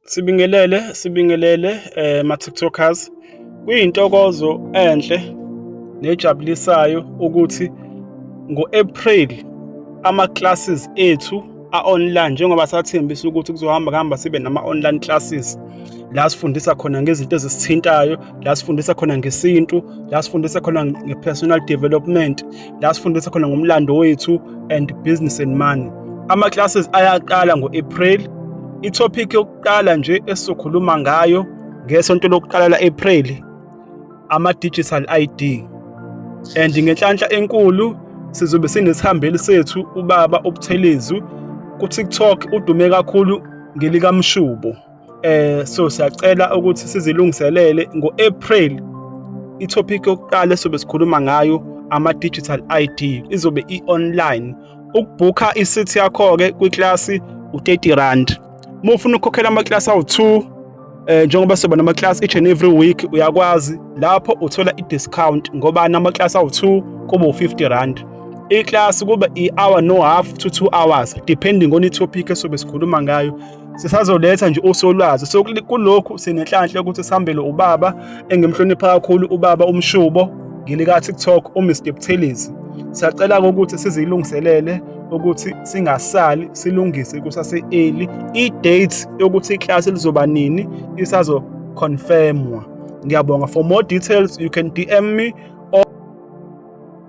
Sibingelele, sibingelele eh ma-TikTokers. Kuyintokozo enhle nejabulisayo ukuthi ngo-April ama-classes ethu a-online njengoba sathembisa ukuthi kuzohamba kuhamba sibe nama-online classes la sifundisa khona ngezinto ezisithintayo la sifundisa khona ngesintu la sifundisa khona nge-personal development la sifundisa khona ngomlando wethu and business and money ama-classes ayaqala ngo-april ithophikhi yokuqala nje esizokhuluma ngayo ngesonto lokuqala la-april ama-digital id and ngenhlanhla enkulu sizobe sinesihambeli sethu ubaba ubuthelezi kuTikTok udume kakhulu ngelikamshubo eh so siyacela ukuthi sizilungiselele ngo-April i-topic yokuqala esobe sikhuluma ngayo ama-digital ID izobe i-online ukubhukha i-seat yakho-ke kwiklasi u-30 rand uma ufuna ukukhokhela amaklasi awu-2 eh njengoba soba namaklasi each and every week uyakwazi lapho uthola i-discount ngoba namaklasi awu-2 kuba u-50 rand iklasi kuba i-hour no half to two hours depending on i-topic esobe sikhuluma ngayo sisazoletha nje usolwazi so kulokhu sinenhlanhla ukuthi sihambele ubaba engimhlonipha kakhulu ubaba umshubo ngilika TikTok uMr Buthelezi siyacela ukuthi sizilungiselele ukuthi singasali silungise kusase early i date yokuthi iclass lizoba nini isazo confirmwa ngiyabonga for more details you can DM me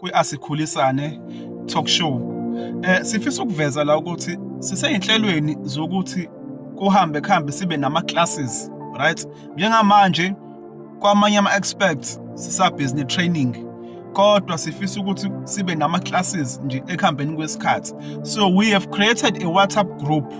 kwi-Asikhulisane Talk Show. Eh sifisa ukuveza la ukuthi siseyinhlelweni zokuthi kuhambe kuhambe sibe nama classes, right? Njengamanje kwamanye ama experts sisa business training kodwa sifisa ukuthi sibe nama classes nje ekuhambeni kwesikhathi. So we have created a WhatsApp group.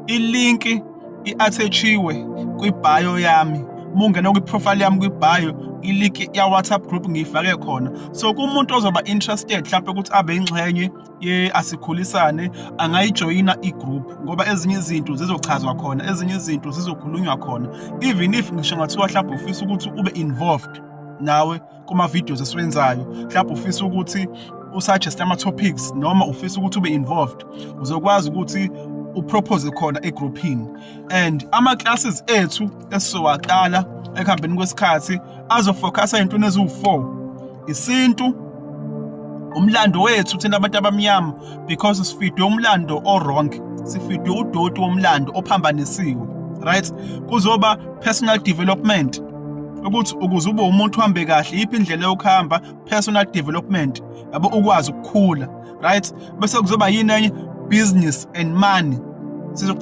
Ilinki i-athetshiwe kwibhayo yami uma ungena kwi-profile yami kwibhayo iliki ya-whatsapp group ngiyifake khona so kumuntu ozoba interested mhlawumpe ukuthi abe yingxenye ye-asikhulisane angayijoyina i-group ngoba ezinye izinto zizochazwa khona ezinye izinto zizokhulunywa khona even if ngisho ngathiwa mhlawumbe ufisa ukuthi ube involved nawe kuma-videos esiwenzayo mhlawumbe ufisa ukuthi usuggest ama-topics noma ufisa ukuthi ube involved uzokwazi ukuthi upropose khona egrouphini and ama-classes ethu esizowaqala ekuhambeni kwesikhathi azofocusa ey'ntweni eziwu-four isintu umlando wethu thina abantu abamnyama because sifidwe umlando o-wrong sifidwe udoti womlando ophambanisiwe right kuzoba personal development ukuthi ukuze ube umuntu uhambe kahle yiphi indlela yokuhamba personal development yabo ukwazi ukukhula right bese kuzoba yini enye business and money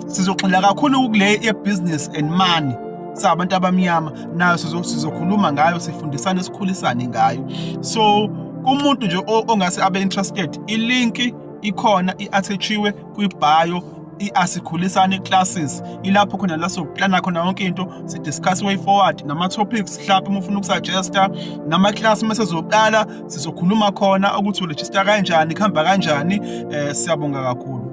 sizogxila kakhulu kule ye-business and money sabantu abamnyama nayo sizokhuluma ngayo sifundisane sikhulisane ngayo so kumuntu nje ongase abe interested ilinki ikhona i-athatshiwe kwibhayo i-asikhulisane classes ilapho khona la sokuplana khona yonke into sidiscuss way forward nama-topics mhlawumbe uma ufuna ukusuggesta nama-class uma sezoqala sizokhuluma khona ukuthi urejista kanjani kuhamba kanjani um siyabonga kakhulu